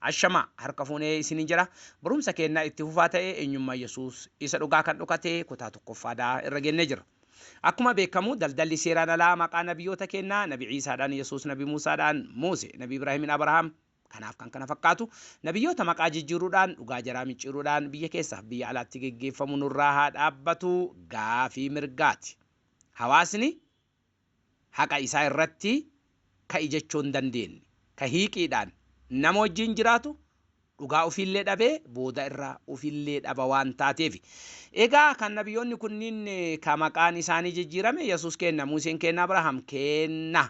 Ashamaa! Harka fuunee isiniin jedha. Barumsa keenna itti fufaa ta'ee eenyummaa Yesuus isa dhugaa kan dhokate kutaa tokkoffaa dha irra geennee jirra. Akkuma beekkamu daldalli seeraan alaa maqaa nabiyoota keennaa nabi Iisaadhaan Yesuus nabi Muusaadhaan Muuse nabi Ibraahimin Abrahaam kanaaf kan kana fakkaatu nabiyyoota maqaa jijjiiruudhaan dhugaa jaraa micciiruudhaan biyya keessaaf biyya alaatti geggeeffamu nurraa haa dhaabbatu gaafii mirgaati. Hawaasni haqa isaa irratti ka'i jechuu hin dandeenne. Ka hiiqiidhaan nama wajjiin jiraatu dhugaa ufiillee dhabee booda irra ufillee dhaba waan taateefi. Egaa kan nabiyoonni kunniin ka maqaan isaanii jijjiirame Yesuus keenna, Muuseen keenna, Abrahaam keenna,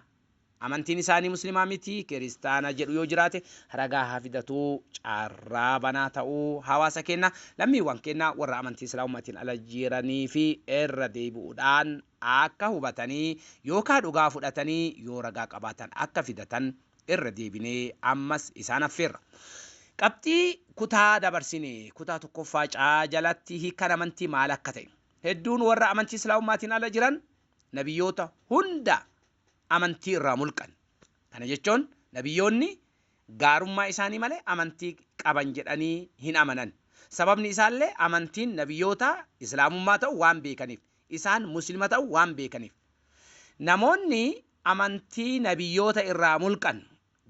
amantiin isaanii Muslimaa miti, Kiristaana jedhu yoo jiraate ragaa haa fidatu. Carraa banaa ta'uu hawaasa keennaa, lammiiwwan keennaa warra amantii Islaamummaatiin ala jiraniifi irra deebi'uudhaan akka hubatanii yookaa dhugaa fudhatanii yoo ragaa qabaatan akka fidatan irra deebinee ammas isaan affeerra. Qabxii kutaa dabarsine kutaa tokkoffaa C jalatti hiikkaan amantii maal akka ta'e, hedduun warra amantii Islaamummaatiin ala jiran nabiyyoota hunda amantii irraa mulqan. Kana jechoon nabiyyoonni gaarummaa isaanii malee amantii qaban jedhanii hin amanan. Sababni isaallee amantiin nabiyyootaa Islaamummaa ta'u waan beekaniif. isaan Muslima ta'u waan beekaniif. Namoonni amantii Nabiyyoota irraa mulqan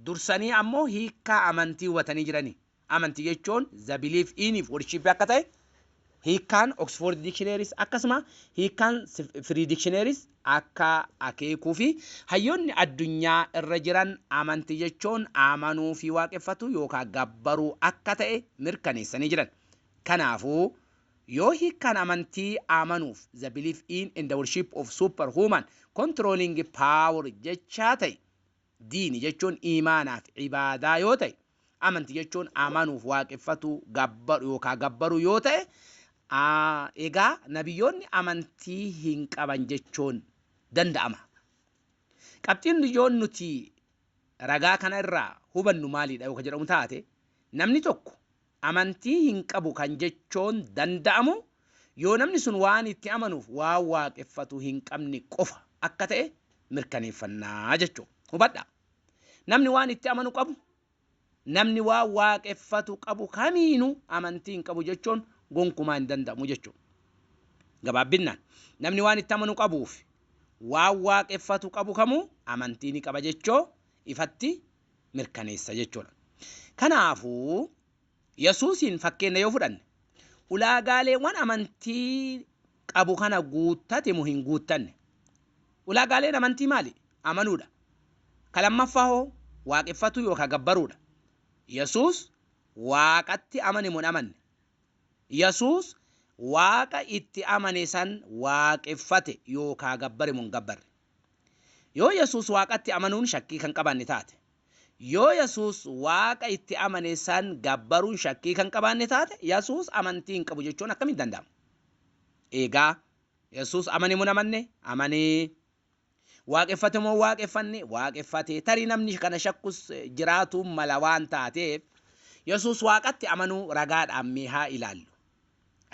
dursanii ammoo hiikkaa amantii hubatanii jirani. Amantii jechuun the belief in fi worship akka ta'e hiikkaan Oxford Dictionaries akkasuma hiikkaan Free Dictionaries akka akeekuu fi hayyoonni addunyaa irra jiran amantii jechuun amanuu fi waaqeffatuu yookaa gabbaruu akka ta'e mirkaneessanii jiran. Kanaafuu. Yoo hiikkaan amantii amanuuf, the belief in and worship of superhuman controlling power, jechaa ta'e, diini jechuun iimaanaa fi ibaadaa yoo ta'e, amanti jechuun amanuuf, waaqeffatuu, gabbaru yookaa gabbaruu yoo ta'e, a egaa nabiyyoonni amantii hin qaban jechuun danda'ama. Qabxiin ijoon nuti ragaa kana irraa hubannu maalidha yoo ka jedhamu taate, namni tokko amantii hin qabu kan jechoon danda'amu yoo namni sun waan itti amanuuf waan waaqeffatu hin qabne qofa akka ta'e mirkaneeffanna jechuu. Hubadhaa! Namni waan itti amanu qabu, namni waan waaqeffatu qabu kamiinuu amantii hin qabu jechuun gonkumaa hin danda'amu jechuu. Gabaabbinnaan, namni waan itti amanu qabuufi waan waaqeffatu qabu kamuu amantii ni qaba jechoo ifatti mirkaneessa jechuudha. Kanaafuu Yesuusiin fakkeenya yoo fudhanne ulaagaaleewwan amantii qabu kana guuttate moo hin guuttanne? Ulaagaaleen amantii maali? Amanuudha. Ka lammaffaa hoo waaqeffatuu yookaan gabbaruudha. Yesuus waaqatti amane moo hin amanne? Yesuus waaqa itti amane san waaqeffate yookaan gabbare moo hin gabbarre? Yoo Yesuus Waaqatti amanuun shakkii kan qabaanne taate. Yoo Yesuus Waaqa itti amane san gabbaruun shakkii kan qabaanne taate, Yesuus amantii hin qabu jechuun akkamitti danda'ama? Eegaa, Yesuus amane moo hin amanne? Amane. Waaqeffate moo hin waaqeffanne? Waaqeffate. Tarii namni kana shakkus jiraatuu mala waan taateef, Yesuus Waaqatti amanuu ragaadhaan mee haa ilaallu.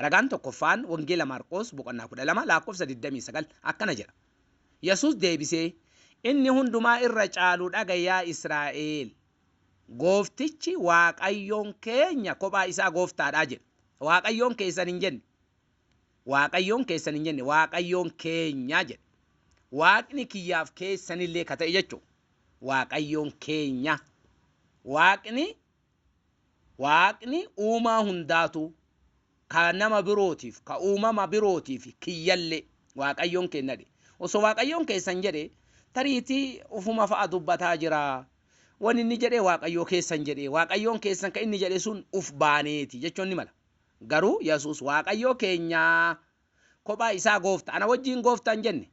Ragaan tokkoffaan Wangeela Maarqoos boqonnaa 12 lakkoofsa 29 akkana jedha, Yesuus deebisee, Inni hundumaa irra caalu dhaga'i yaa Israa'eel! Gooftichi Waaqayyoon keenya kophaa isaa Gooftaa dha jedhe. Waaqayyoon keessan hin jenne. Waaqayyoon keessan hin jenne, Waaqayyoon keenya jedhe. Waaqni kiyyaaf keessan illee ka ta'e jechuudha. Waaqayyoon keenya. Waaqni Waaqni uumaa hundaatuu, ka nama birootiif, ka uumama birootiif, kiyyallee, Waaqayyoon keenna dhe. Osoo Waaqayyoon keessan jedhe, tariitii ufuma fa'a dubbataa jira. Wani inni jedhe Waaqayyoo keessan jedhe. Waaqayyoon keessan ka inni jedhe sun uf baanee ti jechuun ni mala. Garuu Yesuus Waaqayyoo keenya kophaa isaa Goofta. Ana wajjiin Goofta hin jenne.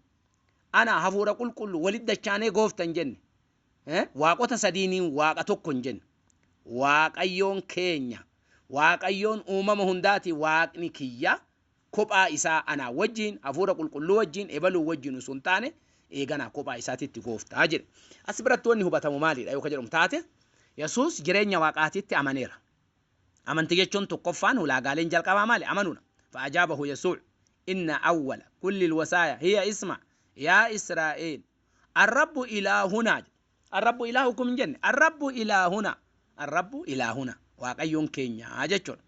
Ana, Hafuura Qulqulluu, walitti dachaanee Goofta hin jenne. Waaqota sadiiniin Waaqa tokko hin jenne. Waaqayyoon keenya, Waaqayyoon uumama hundaati, Waaqni kiyya kophaa isaa anaa wajjin, Hafuura Qulqulluu wajjin, ebaluu wajjin utuu hin taane, eeganaa kophaa isaatitti gooftaa jedhe. As biratti wanni hubatamu maalidha yoo ka jedhamu taate, Yesuus jireenya Waaqaatitti amaneera. Amantii jechuun tokkoffaan ulaagaaleen jalqabaa maali? Amanuudha. Fa'ajaabahu Yesuuc, Inna awwala kulli lwasaaya hiya isma, yaa Israa'eel. Arrabbu ilaahunaa jedhe. Arrabbu ilaahukum hin jenne. Arrabbu ilaahunaa. Arrabbu ilaahunaa. Waaqayyoon keenya jechuudha.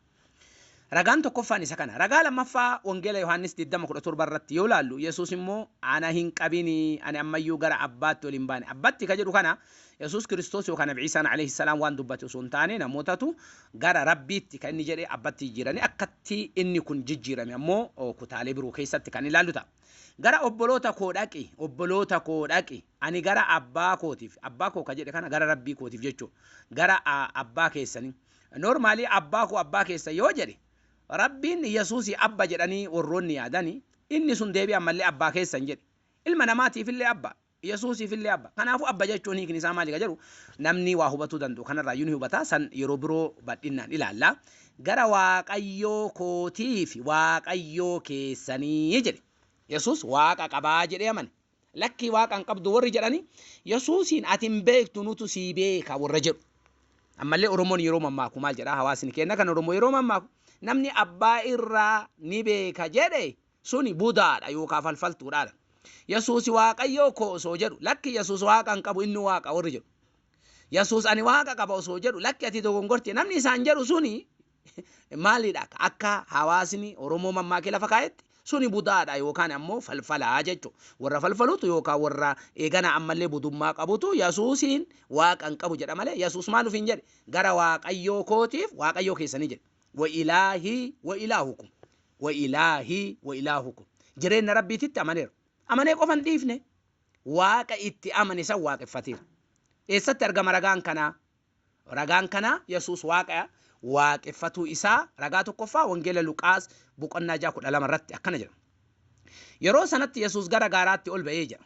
Ragaan tokkoffaan isa kana. Ragaa lammaffaa Wangeela Yohaannis 20:17 irratti yoo ilaallu Yesuus immoo ana hin qabini ani ammayyuu gara abbaatti ol hin baane. Abbatti ka jedhu kana Yesuus Kiristoos yookaan Nabi Ciisaan alayhi salaam waan dubbate osoo hin taane namootatu gara rabbiitti kan inni jedhe abbatti jijjiiranii akkatti inni kun jijjiirame ammoo kutaalee biroo keessatti kan ilaallu ta'a. Gara obboloota koo dhaqi, obboloota koo dhaqi. Ani gara abbaa kootiif, abbaa koo ka jedhe kana gara rabbii kootiif jechuu, gara a, abbaa keessanii. Normally abbaa koo abbaa keessan yoo jedhe, rabbiin Yesuusii abba jedhanii warroonni yaadani, inni sun deebi'ee ammallee abbaa keessan jedhe. Ilma namaatiifillee abbaa. Yesuusiifillee Abba. Kanaafuu Abba jechuun hiikni isaa maali ka jedhu namni waa hubatuu danda'u kanarraayyuu ni hubata. San yeroo biroo badhinnaan ilaalla. Gara Waaqayyoo kootii fi Waaqayyoo keessanii jedhe. Yesuus Waaqa qabaa jedhee amane. Lakkii Waaqa hin qabdu warri jedhani Yesuusiin ati hin beektu nutu sii beeka warra jedhu. Ammallee Oromoon yeroo mammaaku maal jedhaa hawaasni keenna kan Oromoo yeroo mammaaku namni abbaa irraa ni beeka jedhe Suni Budaa dha yookaa falfaltuu dha dha. Yesuusi Waaqayyoo koo osoo jedhu, lakki Yesuus Waaqa hin qabu inni Waaqa warri jedhu. Yesuus ani Waaqa qaba osoo jedhu, lakki ati dogongorte namni isaan jedhu suni maali dha akka hawaasni Oromoo mammaakee lafa kaa'etti suni Budaa dha yookaan ammoo falfala jechu. Warra falfalutu yookaan warra eegana ammallee budummaa qabutu Yesuusiin Waaqa hin qabu jedha malee Yesuus maal ofiin jedhe gara Waaqayyoo kootiif Waaqayyoo keessanii jedhe. Wa ilaahii wa ilaahukum. wa ilaahi wa ilaahukum. Jireenna Rabbiititti amaneera. Amanee qofa hin dhiifne. Waaqa itti amane san waaqeffateera. Eessatti argama ragaan kanaa? Ragaan kanaa Yesuus Waaqa waaqeffatuu isaa ragaa tokkoffaa Wangeela Luqaas boqonnaa 6 12 irratti akkana jedha. Yeroo sanatti Yesuus gara gaaraatti ol ba'ee jedha.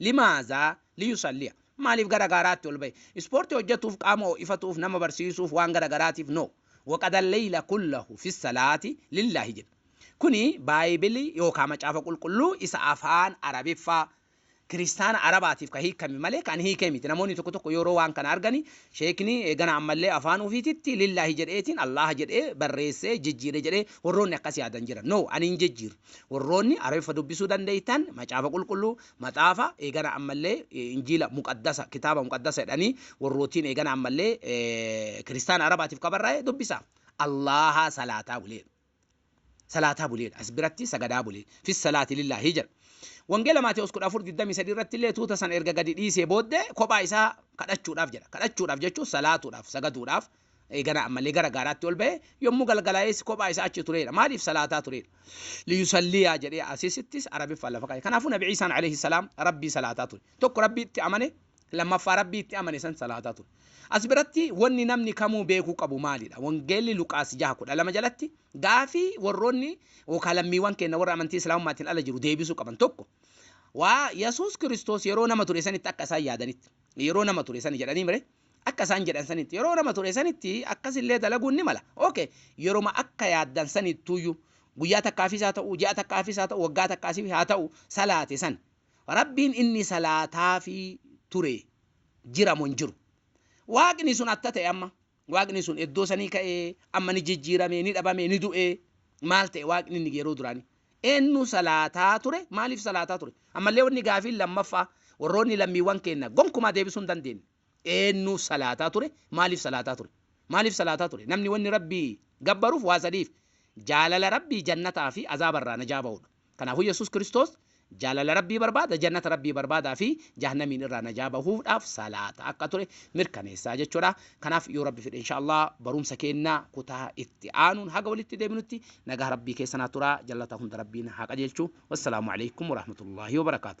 Limaazaa liyusalliya? Maaliif gara gaaraatti ol ba'e? Ispoortii hojjatuuf, qaama ho'ifatuuf, nama barsiisuuf, waan gara garaatiif? No. Waqada leyla kullahu fissalaati lillaahi jedha. Kuni Baayibilii yookaa Macaafa Qulqulluu isa afaan Arabiffaa Kiristaana Arabaatiif ka hiikkame malee ka an hiikee miti. Namoonni tokko tokko yooroo waan kana argani Sheekni eegana ammallee afaan ufiititti lillaahi jedheetiin Allaaha jedhee barreessee jijjiire jedhee worroonni akkas yaadan jiran. No. Ani hin jijjiirre. Warroonni Arabiffa dubbisuu dandeeytan Macaafa Qulqulluu, Maxaafa, eegana ammallee Injiila Muqaddasa, Kitaaba Muqaddasa jedhanii warrootiin eegana ammallee Kiristaana Arabaatiif ka barraa'e dubbisaa. Allaahaa salaataa bulee. Salaataa bulee. As biratti sagadaa bulee. Fi salaati lillaahi jedha. Wangeela Maatewos 14, 23 irratti illee tuuta san erga gadi dhiisee booddee kophaa isaa kadhachuudhaaf jedha. Kadhachuudhaaf jechuun salaatuudhaaf, sagaduudhaaf, eeganaa ammallee gara gaaraatti ol ba'ee yommuu galgalaa'ees kophaa isaa achi tureera. Maaliif salaataa tureera? Liyusalliyaa jedhee asisittis Arabiffaan lafa kaa'e. Kanaafuu Nabi Ciisaan alayhi salaam Rabbii salaataa ture. Tokko Rabbiitti amane, lammaffaa Rabbii itti amane san salaataa ture. As biratti wanni namni kamuu beekuu qabu maalidha? Wangeelli Luqaas 6:12 jalatti gaafii warroonni yookaan lammiiwwan keenya warra amantii Islaamummaatiin ala jiru deebisuu qaban tokko waa Yesuus Kiristoos yeroo nama ture sanitti akka isaan yaadanitti yeroo nama ture sani jedhanii mire Akka isaan jedhan sanitti yeroo nama ture sanitti akkas illee dalaguun ni mala. Ok, yeroma akka yaaddan sanittuuyyu, guyyaa takkaafis haa ta'u, ji'a takkaafis haa ta'u, waggaa takkaasif haa ta'u, salaate san. Rabbiin inni salaataafii ture jira mo hin jiru? Waaqni sun atta ta'e amma? Waaqni sun eddoo sanii ka'ee, amma ni jijjiirame, ni dhabame, ni du'e, maal ta'e Waaqni inni yeroo duraanii? Eennu salaataa ture? Maaliif salaataa ture? Ammallee wanni gaafiin lammaffaa warroonni lammiiwwan keenna gonkumaa deebisuu hin dandeenne. Eennu salaataa ture? Maaliif salaataa ture? Maaliif salaataa ture? Namni wanni Rabbii gabbaruuf waa sadiif, jaalala Rabbii, jannataa fi azaaba irraa najaa bahuudha. Kanaafuu Yesuus Kiristoos jaalala Rabbii barbaada, jannata Rabbii barbaada fi jahannamiin irraa najaa bahuudhaaf salaataa akka ture mirkaneessaa jechuudha. Kanaaf yoo Rabbi fedhe insha Allah barumsa keenna kutaa itti aanuun haga walitti deebinutti nagaa Rabbii keessa naa turaa jallata hunda Rabbiin haa qajeelchu. Wassalaamu alaikum warahmatullahi wabarakaatu.